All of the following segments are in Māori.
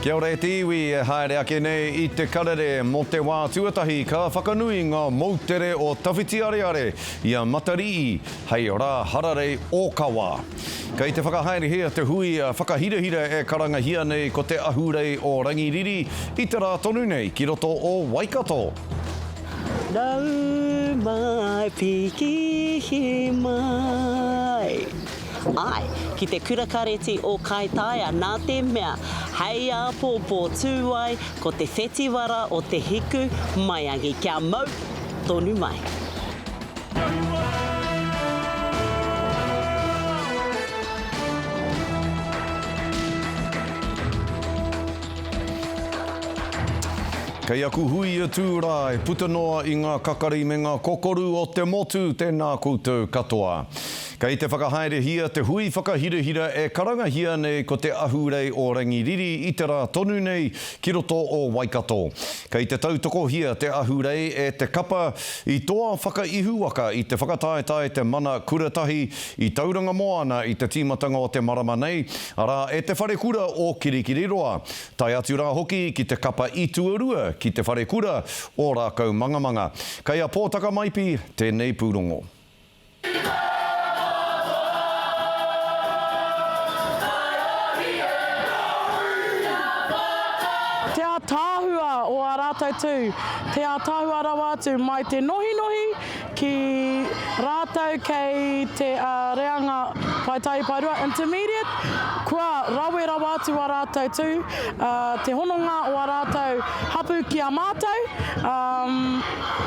Kia ora e te iwi e haere ake nei i te karere mo te wā tuatahi ka whakanui nga moutere o Tawhitiareare i a Matarii hei ra hararei okawa. Kei te whakahaerehia te hui whakahirahira e karangahia nei ko te Ahurei o Rangiriri i te ra tonu nei ki roto o Waikato. Nau mai piki mai. Āe, ki te Kura Kareti o Kaitaia nā te mea, hei āpōpō tū ai ko te whetiwara o te hiku maiangi kia mau tonu mai. Kei aku hui e tū rā, e puta noa i ngā kakari me ngā kokoru o te motu tēnā koutou katoa. Kei te whakahaerehia te hui whakahirahira e karangahia nei ko Te Ahurei o Rangiriri i te rā tonu nei ki roto o Waikato. Kei te tautokohia te ahurei e te kapa i toa whakaihuwaka i te whakataetae Te Mana Kura Tahi i Tauranga Moana i te tīmatanga o te marama nei, arā e Te Wharekura o Kirikiriroa, tae atu rā hoki ki te kapa i tuarua ki Te Wharekura o Rākaumangamanga. Kei a Pōtakamaipi tēnei pūrongo. Te ātaahua o ā rātou tū, te ātaahua rawa atu mai te nohinohi ki rātou kei te reanga paetaepaerua, intermediate, kua rawe rawa atu ā rātou tū, te hononga o ā rātou hapū ki a mātou.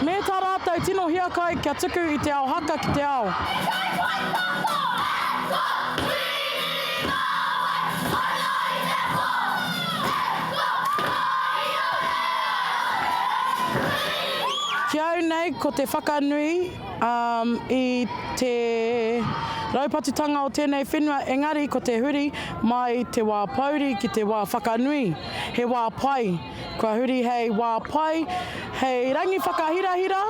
Me tā rātou tino hiakai kia tuku i te ao haka ki te ao. Hei tautoko Escort Whīrīmāwai Anō i te pō Escort Whāiorea Ki au nei ko te whakanui i te raupatutanga o tēnei whenua engari ko te huri mai te wā pouri ki te wā whakanui he wā pai. Kua huri hei wā pai, hei rangi whakahirahira,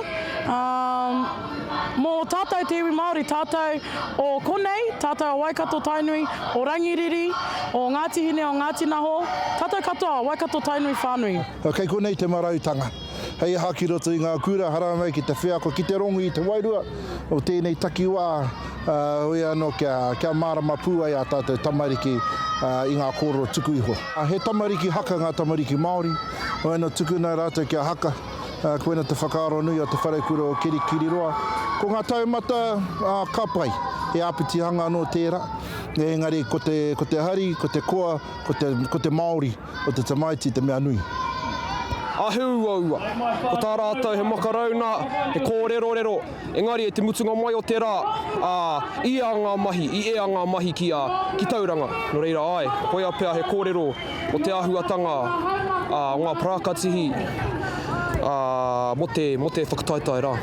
ā, mō tātou te iwi Māori, tātou o konei, tātou o Waikato-Tainui, o Rangiriri, o Ngāti Hine, o Ngāti Naho, tātou katoa o Waikato-Tainui whānui. Kei konei te marautanga. Hei aha ki roto i ngā kura, haramai ki te wheako, ki te rongu i te wairua o tēnei takiwā. Heoi anō, kia mārama pū ai ā tātou tamariki i ngā kōrero tuku iho. He tamariki haka ngā tamariki Māori, heoi anō tukuna rātou kia haka. Koina te whakaaro nui o Te Wharekura o Kirikiriroa. Ko ngā taumata, ka pai, he āpitihanga anō tērā, engari ko te hari, ko te koa, ko te Māori. o te tamaiti te mea nui. Āheuaua, ko tā rātou he makarauna, he kōrerorero, engari i te mutunga mai o te rā, ā, ia ngā mahi, i ea ngā mahi ki a, ki Tauranga. Nō reira, āe, koia pea he kōrero mō te āhuatanga a ngā parākatihi, ā, mō te, mō te whakataetae rā.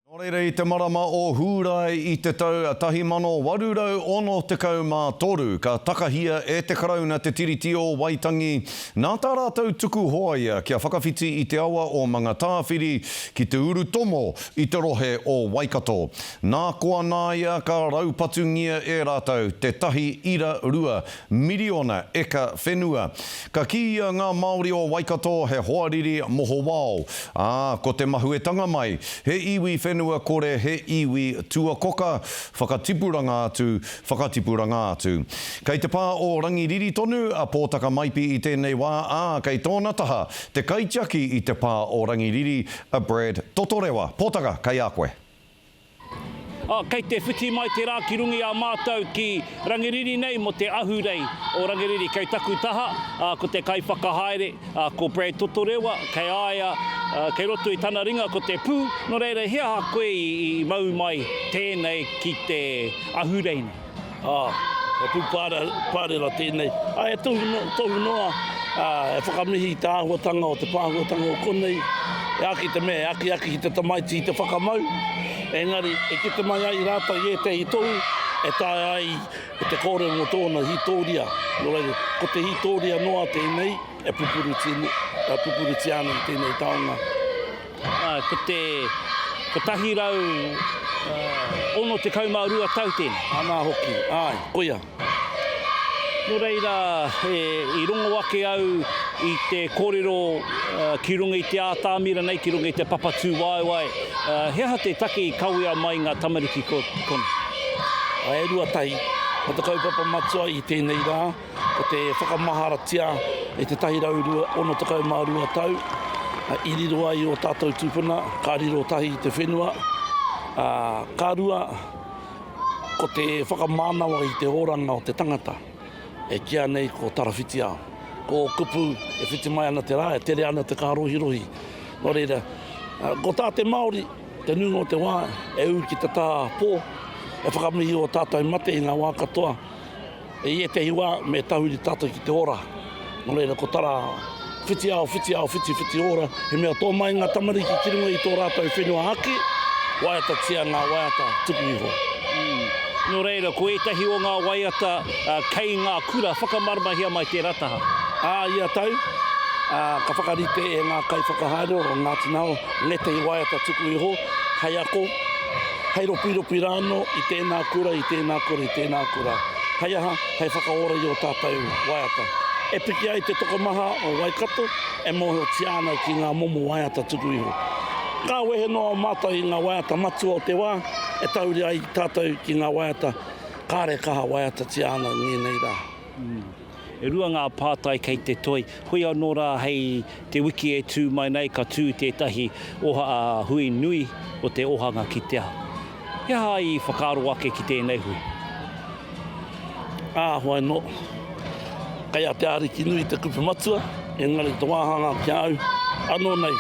Nō reira i te marama o Hūrae i te tau 1863 ka takahia e te Karauna te Tiriti o Waitangi, nā tā rātou tuku hoa ia kia whakawhiti i te awa o Mangatāwhiri ki te urutomo i te rohe o Waikato. Nā koa nāia ka raupatungia e rātou te tahi ira rua Miriona eka whenua. Ka kīia ngā Māori o Waikato he hoariri mohowao, ā, ko te mahuetanga mai, he iwi whenua kore, he iwi tuakoka, whakatipuranga atu, whakatipuranga atu. Kei te pā o Rangiriri tonu a Pōtakamaipi i tēnei wā, ā, kei tōna taha te kaitiaki i te pā o Rangiriri, a Brad Totorewa. Pōtaka, kei a koe. Kei te whiti mai te rā ki runga i a mātou ki Rangiriri nei mō te Ahurei o Rangiriri. Kei taku taha, ko te kaiwhakahaere, ko Brad Totorewa, kei a ia, kei roto i tana ringa ko te pū, nō reira he aha koe i mau mai tēnei ki te Ahurei nei? Ā, he pū pārera tēnei. Ā, he tohu noa, ā, e whakamihi i te āhuatanga o te pāhuatanga o konei, e āki te mea, e akiaki ki te tamaiti i te whakamau, engari e kite mai ai rātou i ētehi tohu e taea ai te kōrero mō tōna hītōria. Nō reira, ko te hītōria noa tēnei e pupurutia ana i tēnei taonga. Ko te 162 tau tēnei. Anā hoki, āe, koia. Nō reira, i rongo ake au i te kōrero ki runga i te ātaami ranei, ki runga i te papatūwaewae, he aha te take i kawea mai ngā tamariki ko konā? E rua tahi, ko te kaupapa matua i tēnei rā, Ko te whakamaharatia e te 162 tau i riro ai o tātou tūpuna, ka riro tahi i te whenua, ā, ka rua, ko te whakamānawa i te oranga o te tangata, e kīa nei ko Tarawhitiao. Ko ō kupu e whiti mai ana te rā, e tere ana te kārohirohi. Nō reira, ko tā te Māori, te nuinga o te wā, e ū ki te tā pō, e whakamihi ō tātou mate i ngā wā katoa, I ētehi wā, me tahuri tātou ki te ora. Nō reira, ko tā rā, whiti ao, whiti ao, whiti, whiti ora, he mea tō mai ngā tamariki ki runga i tō rātou whenua ake, waiatatia ngā waiata tuku iho. Nō reira, ko ētahi o ngā waiata kei ngā kura, whakamarumahia mai tērā taha. Ā ia tau, ka whakarite e ngā kaiwhakahaere o Ngāti Nao ngētehi waiata tuku iho, hei ako, Hei ropiropi rā anō i tēnā kura, i tēnā kura, i tēnā kura. Hei aha, hei whakaora i ō tātou waiata. E piki ai te tokomaha o Waikato, e mōhiotia ana ki ngā momo waiata tuku iho. Ka wehe noa mātou i ngā waiata matua o te wā, e tauri ai tātou ki ngā waiata kāre kaha waiatatia ana ngēnei rā. Mm. E rua ngā pātai kei te toe, hoi anō rā hei te wiki e tū mai nei ka tū tētahi oha a hui nui o te ohanga ki te aha? He aha i whakaaro ake ki tēnei hui? Ā, hoi anō, kei a te Ariki nui te kupu matua, engari te wāhanga ki a au anō nei,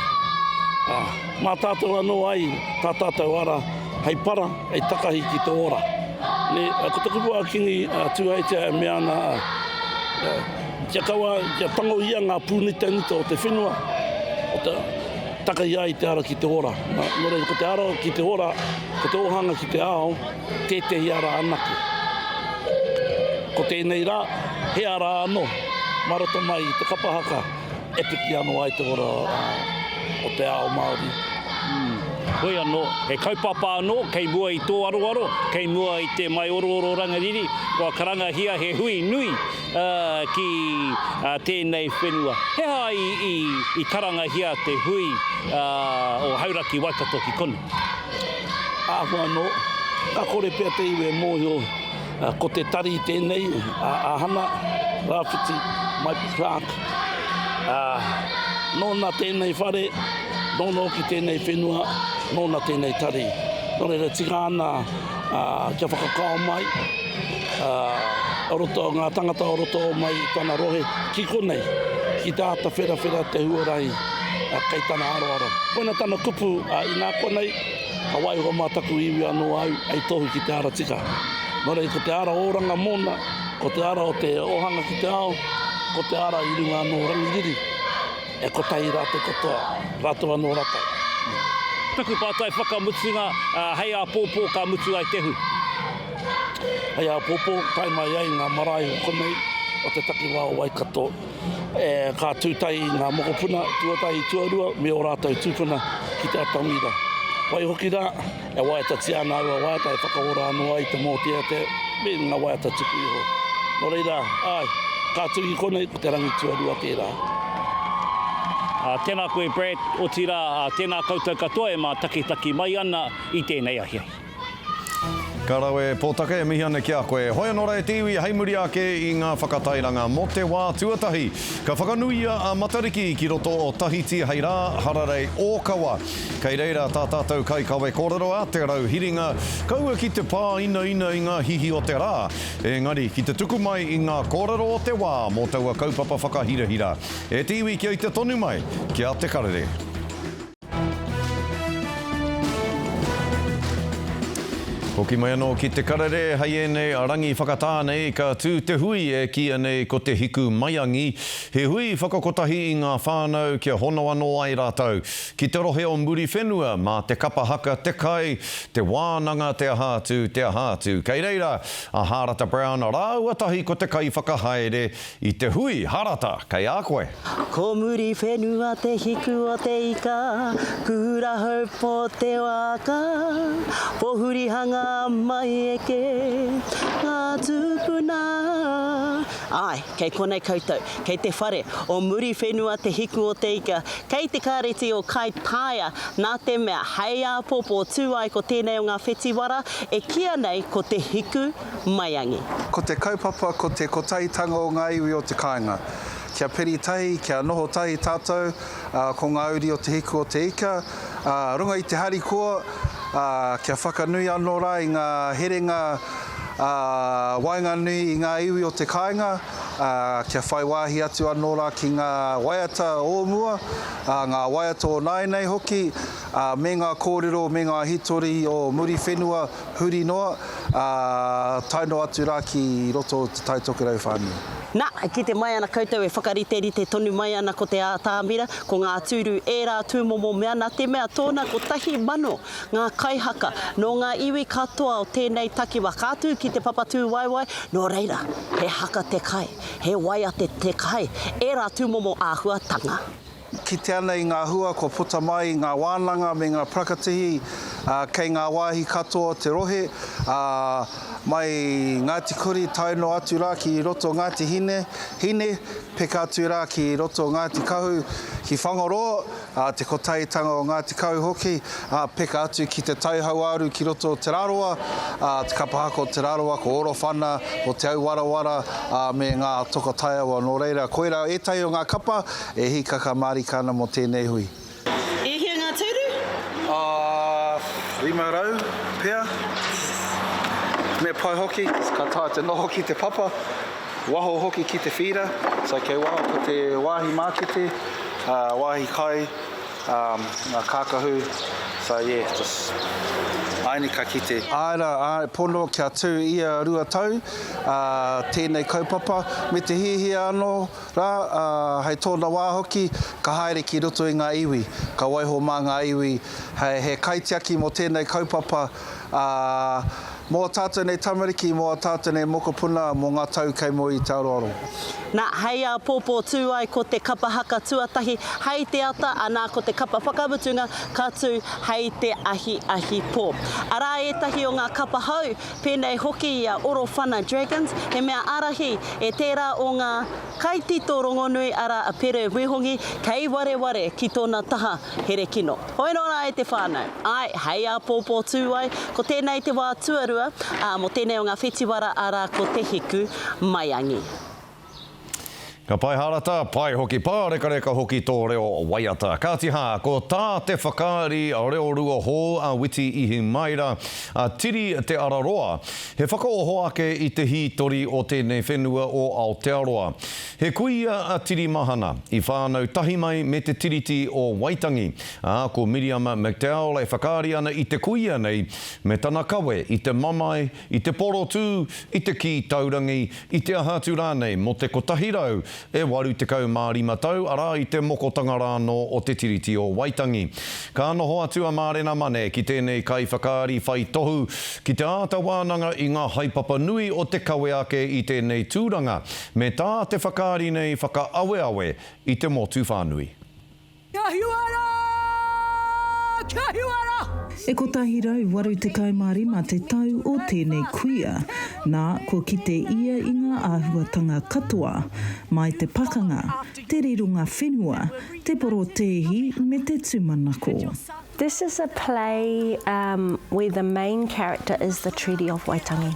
ā, mā tātou anō ai tā tātou ara hei para, Hei takahi ki te ora. Nē, ko te kupu a Kingi Tūheitia e mea ana, kia kaua, kia tango ia ngā pūnitanita o te whenua, o te takahi ai te ara ki te ora. Nō reira, ko te ara ki te ora, ko te ōhanga ki te ao, tētehi ara anake. Ko tēnei rā, he ara anō, mā roto mai i te kapa haka, E piki anō ai te ora o te ao Māori. Hoi anō, he kaupapa anō kei mua i tō aroaro, kei mua i te maiorooro rangiriri, kua karangahia he hui nui ki tēnei whenua. He aha i karangahia te hui o Hauraki Waikato ki konei? Āhua anō, ka kore pea te iwi e mōhio Ko te tari tēnei, a Ahana Rawhiti, Mike Clark. A, nōna tēnei whare, nōna hoki tēnei whenua, nōna tēnei tari. Nō reira tika ana a, kia whakakao mai, a, o roto, ngā tangata o roto mai i tana rohe, ki konei, ki tā ta wherawhera te huarahi a, kei tana aroaro. Koina tana kupu a, inā konei, Ka waiho mā taku iwi anō au hei tohu ki te ara tika. Nō reira, ko te ara oranga mōna, ko te ara o te ohanga ki te ao, ko te ara i runga anō o Rangiriri, e kotahi rā te katoa, rātou anō rātou. Taku pātai whakamutunga, hei āpōpō ka mutu ai te hui? Hei āpōpō, tae mai ai ngā marae o konei, o te takiwā o Waikato, E, ka tūtahi ngā mokopuna tuatahi tuarua me ō rātou tūpuna ki te atamira. Waihoki rā, e waiatatia ana aua waiata e whakaora anō ai te mōteatea me ngā waiata tuku iho. Nō reira, āe, ka tuhi konei ko te rangi tuarua tērā. Uh, tēnā koe Brad, otirā uh, tēnā koutou katoa e mātakitaki mai ana i tēnei ahiahi. Ka rawe, Potaka, e mihi ana ki a koe. Hoi anō rā e te iwi, hei muri ake i ngā whakatairanga mō te wā tuatahi, ka whakanuia a Matariki ki roto o Tahiti hei rā hararei ōkawa. Kei reira tā tātou kaikawe kōrero a Te Rauhiringa, kaua ki te pāinaina i ngā hihi o te rā, engari ki te tuku mai i ngā kōrero o te wā mō taua kaupapa whakahirahira. E te iwi kia ita tonu mai, kia te karere. Hoki mai anō ki Te Karere hei ēnei rangi whakatā nei ka tū te hui e kīia nei ko Te Hiku Maiangi, he hui whakakotahi i ngā whānau kia hono anō ai rātou ki te rohe o Muriwhenua mā te kapa haka, te kai, te wānanga, te aha atu, te aha atu. Kei reira a Hārata Brown rāua tahi ko te kaiwhakahaere I te hui harata kei a koe. Ko muri whenua te hiku o te ika, Kura hou po te waka, Pohuri hanga mai eke nga tupuna. Ae, kei konei koutou, kei te whare o muri whenua te hiku o te ika, kei te kareti o Kaitaia, na te mea hei apopo tu ai ko tenei o nga whetiwara e kia nei ko te hiku maiangi. Ko te kaupapa ko te kotahitanga o ngā iwi o te kāinga. Kia peri tahi, kia noho tahi tātou, ā, ko ngā uri o Te Hiku o te Ika, ā, runga i te harikoa, ā, kia whakanui anō rā i ngā herenga, ā, waenganui i ngā iwi o te kāinga, ā, kia whai wāhi atu anō rā ki ngā waiata o mua, ā, ngā waiata o nāianei hoki, ā, me ngā kōrero me ngā hitori o Muriwhenua, Huri noa, ā, tae noa atu rā ki roto o Te Tai Tokerau whānui. Nā, kite mai ana koutou e whakariterite tonu mai ana ko te ātamira, ko ngā tūru ērā tūmomo mea nā te mea tōna kotahi mano ngā kaihaka nō ngā iwi katoa o tēnei takiwa ka tū ki te Papatūwaewae, nō reira, he haka te kai, he waiate te kai, ērā tūmomo āhuatanga. E kite ana i ngā hua kua puta mai i ngā wānanga me ngā parakatihi kei ngā wāhi katoa o te rohe, mai Ngāti Kuri tae noa atu rā ki roto o Ngāti Hine, peka atu rā ki roto o Ngāti Kahu, ki Whangaroa, te Kotahitanga o Ngāti Kahu hoki, peka atu ki Te Tai Hauāuru ki roto o Te Rarawa, te kapahaka o Te Rarawa, ko Orowhana, ko Te Auwarawara me ngā toka taiawa. Nō reira, koirā ētahi o ngā kapa E hikaka marika ana mo tenei hui. E hia nga turu? Ah, rima rau pea. Me pai hoki, ka taea te noho ki te papa, waho hoki ki te whira, so kei waho ko te wahi makete, wahi kai, nga kakahu, so yeah, just aini ka kite. Ae ra, ae pono kia tu ia rua tau, ah, tenei kaupapa, me te hihia ano, Rā, ā, hei tōna wā hoki, ka haere ki roto i ngā iwi, ka waiho mā ngā iwi hei, he kaitiaki mō tēnei kaupapa, ā, mō ā tātou nei tamariki, mō ā tātou nei mokopuna, mō ngā tau kei mua i te aroaro. Nā, hei āpōpō tū ai ko te kapa haka tuatahi hei te ata, anā, ko te kapa whakamutunga ka tū hei te ahiahi pō. Arā ētahi o ngā kapa hou pēnei hoki i a Orowhana Dragons, he mea ārahi e tērā o ngā kaitito rongonui arā a Pere Wihongi kei wareware ki tōna taha here kino. Hoi anō rā e te whānau, āe, hei āpōpō tū ai, ko tēnei te wā tuarua, ā, mō tēnei o ngā whetiwara arā ko Te Hiku Maiangi. Ka pae harata, pae hoki pārekareka hoki tō reo waiata. Kāti hā, ko tā te whakaari reorua hou a Witi Ihimaera, a Tiri Te Araroa, he whakaoho ake i te hītori o tēnei whenua o Aotearoa. He kuia a Tirimahana, i whānau tahi mai me te Tiriti o Waitangi, ā, ko Miriama McDowell e whakaari ana i te kuia nei me tana kawe i te mamae, i te porotū, i te kī taurangi, i te aha atu rānei mō te kotahi rau e waru tekau mā rima tau, arā, i te mokotanga rānō o Te Tiriti o Waitangi. Ka noho atu a Mārena Mane ki tēnei kaiwhakaari whai tohu ki te āta wānanga i ngā haepapa nui o te kawe ake i tēnei tūranga, me tā te whakaari nei whakaaweawe i te motu whānui. Kia whiua ra! Kia whiua ra! E 185 te tau o tēnei kuia, nā, kua kite ia i ngā āhuatanga katoa, mai te pakanga, te rironga whenua, te porotēhi me te tūmanako. This is a play where the main character is the Treaty of Waitangi.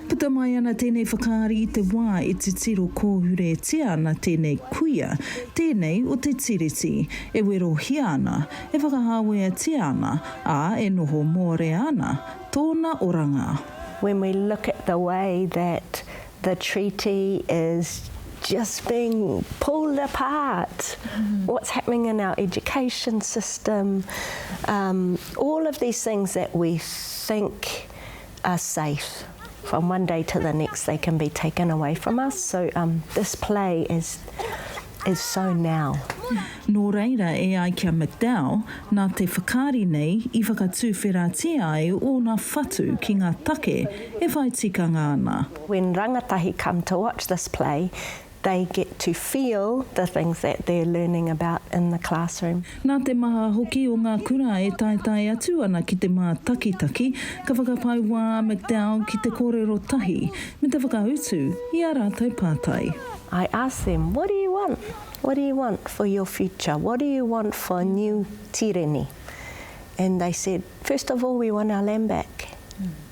Puta mai ana tēnei whakaari i te wā e titiro kōhuretia ana tēnei kuia, tēnei o te Tiriti, e werohia ana, e whakahāweatia ana, ā, e noho mōrea ana tōna oranga. When we look at the way that the Treaty is just being pulled apart, what's happening in our education system, all of these things that we think are safe from one day to the next they can be taken away from us so um this play is is so now. Nō reira e ai ki a McDowell, nā te whakaari nei i whakatuwheratia ai ōna whatu ki ngā take e whai tikanga ana. When rangatahi come to watch this play They get to feel the things that they're learning about in the classroom. Nā te maha hoki o ngā kura e taetae atu ana ki te mātakitaki, ka whakapai wā a McDowell ki te kōrero tahi me te whakautu i ā rātou pātai. I asked them, what do you want? What do you want for your future? What do you want for a new tireni? And they said, first of all, we want our land back.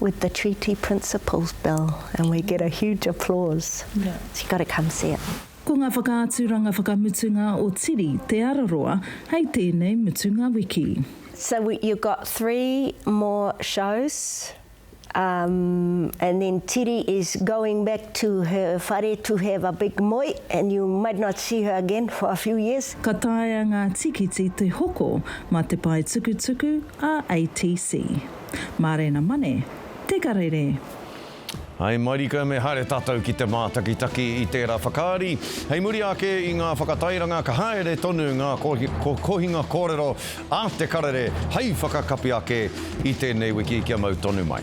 with the treaty principles bill and we get a huge applause. You've got to come see it. Ko ngā whakaaturanga whakamutunga o Tiri Te Araroa hei tēnei mutunga wiki. So you've got three more shows and then Tiri is going back to her whare to have a big moe and you might not see her again for a few years. Ka taea ngā tikiti te hoko mā te pae tukutuku, RATC. Mārena Mane, Te Karere. Hai marika me haere tātou ki te mātakitaki i tērā whakaari. Hei muri ake i ngā whakatairanga ka haere tonu ngā kohinga kōrero a Te Karere hai whakakapi ake i tēnei wiki kia mau tonu mai.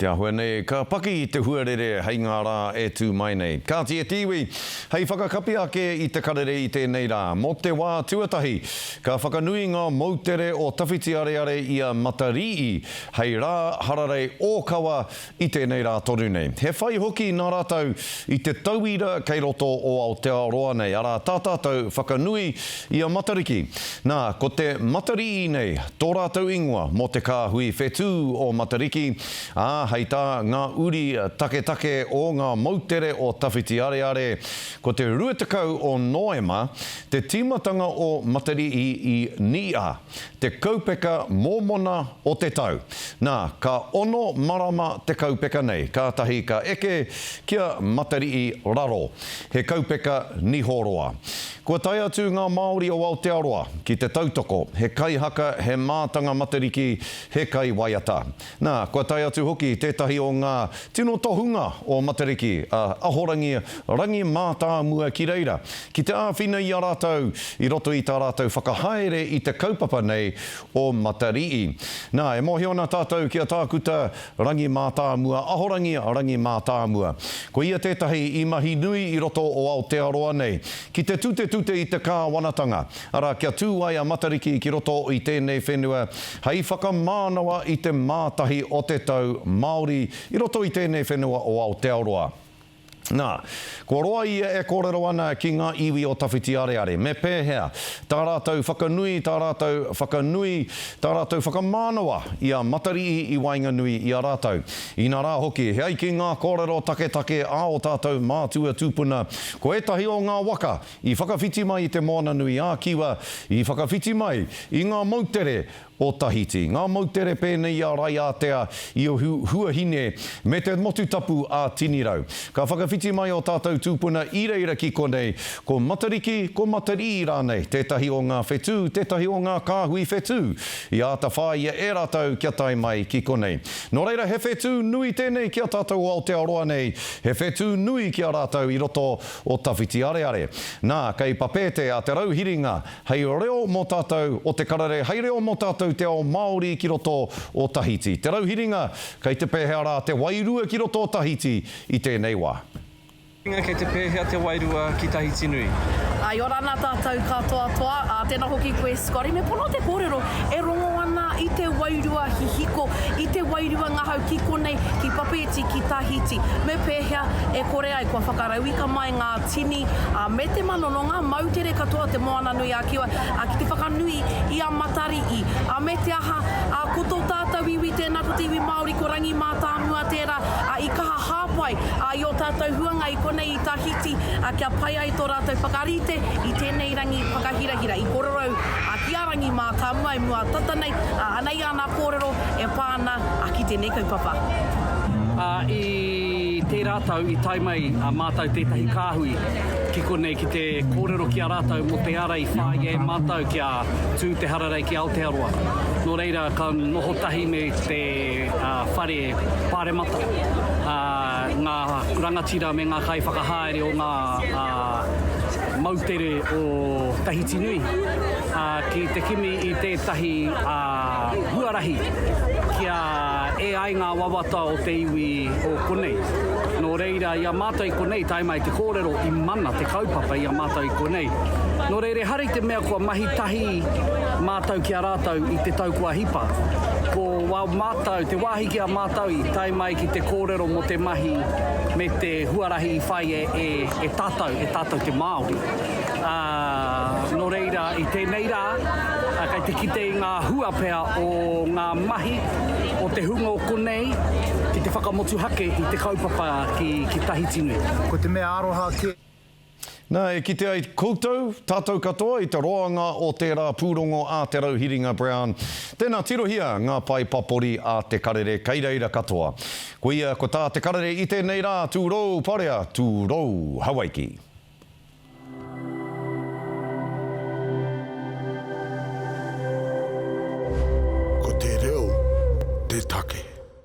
Te āhua nei ka paki i te huarere hei ngā rā e tū mai nei. Kāti e te iwi, hei whakakapi ake i te karere i tēnei rā. Mō te wā tuatahi, ka whakanui ngā moutere o Tawhitiareare i a Matarīi hei rā hararei ōkawa i tēnei rā tonu nei. He whai hoki nā rātou i te tauira kei roto o Aotearoa nei, arā, tā tātou whakanui i a Matariki. Nā, ko te Matariī nei tō rātou ingoa mō te kāhui whetū o Matariki, ā, hei tā ngā uri taketake o ngā moutere o Tawhitiareare, ko te 20 o Noema te tīmatanga o Matariī i Niia. Te kaupeka mōmona o te tau. Nā, ka ono marama te kaupeka nei, kātahi ka eke ki a Matariki raro. He kaupeka niho roa. Kua tae atu ngā Māori o Aotearoa ki te tautoko, he kaihaka, he mātanga Matariki, he kaiwaiata. Nā, kua tae atu hoki tētahi o ngā tino tohunga o Matariki, a Ahorangi Rangi Mātāmua ki reira, ki te āwhina i a rātou i roto i tā rātou whakahaere i te kaupapa nei o Matarii. Nā, e mōhio ana tātou ki a Tākuta Rangi Mātāmua, Ahorangi Rangi Mātāmua. Ko ia tētahi i mahi nui i roto o Aotearoa nei, ki te tutetute i te kāwanatanga, Arā, kia tū ai a Matariki ki roto i tēnei whenua hei whakamānawa i te mātahi o te tau Māori i roto i tēnei whenua o Aotearoa. Nā, kua roa ia e kōrero ana ki ngā iwi o Tawhitiareare. Me pēhea tā rātou whakanui, tā rātou whakanui, tā rātou whakamānawa i a Matariī i waenganui i a rātou? Inā rā hoki, he ai ki ngā kōrero taketake a ō tātou mātua tūpuna, ko ētahi o ngā waka, I whakawhiti mai i te Moana nui ā Kiwa, i whakawhiti mai i ngā moutere o Tahiti. Ngā moutere pēnei i a Raiātea, i a Huahine, me te motu tapu ā Tinirau. Ka whakawhiti mai ō tātou tūpuna i reira ki konei, ko Matariki, ko Matarī rānei, tētahi o ngā whetū, tētahi o ngā kāhui whetū i āta whāia e rātou kia tae mai ki konei. Nō reira, he whetū nui tēnei ki a tātou o Aotearoa nei, he whetū nui ki a rātou i roto o Tawhitiareare. Nā, kei Papeete a Te Rauhiringa hei reo mō tātou o Te Karere, hei reo mō tātou te ao Māori ki roto o Tahiti. Te Rauhiringa, kei te pēhea rā te wairua ki roto o Tahiti i tēnei wā? Rauhiringa, kei te pēhea te wairua ki Tahiti nui? I ora ana tātou katoa toa, ā, tēnā hoki koe Scotty, me pono te kōrero e rongo ana i te wairua hihiko, i te wairua ngahau ki konei, ki Papeete, ki Tahiti. Me pēhea e kore. Kua whakarauika mai ngā tini me te mano nō ngā moutere katoa o Te Moananui-a-Kiwa ki te whakanui i a Matari'i. Me te aha, ko tō tātou iwi tēnā, ko te iwi Māori, ko Rangimātāmua tērā i kaha hāpai i ō tātou huanga i konei i Tahiti kia pai ai tō rātou whakarite i tēnei rangi whakahirahira. I kōrerou ki a Rangimātāmua i mua tata nei, anei āna kōrero e pā ana ki tēnei kaupapa. I tērā tau i tae mai a mātou tētahi kāhui ki konei ki te kōrero ki a rātou mō te ara i whāia e mātou kia tū te hararei ki Aotearoa. Nō reira, ka noho tahi me te whare pāremata, ngā rangatira me ngā kaiwhakahaere o ngā moutere o Tahiti nui ki te kimi i tētahi huarahi kia E ai ngā wawata o te iwi o konei. Nō reira, i a mātou i konei, tae mai te kōrero, i mana te kaupapa i a mātou i konei. Nō reira, ehara i te mea kua mahi tahi mātou ki a rātou i te tau kua hipa. Ko wā mātou, te wāhi ki a mātou i tae mai ki te kōrero mō te mahi me te huarahi i whai e tātou, e tātou te Māori. Ā, nō reira, i tēnei rā, kei te kite i ngā hua pea o ngā mahi o te hunga o konei ki te whakamotuhake i te kaupapa ki Tahiti nui. Ko te mea aroha kē. Nā, e kite ai koutou, tātou katoa i te roanga o tērā pūrongo a Te Rauhiringa Brown, tēnā tirohia ngā pae papori a Te Karere kei reira katoa. Koia ko tā Te Karere i tēnei rā, tūrou parea, tūrou Hawaiki. Ko te reo te take.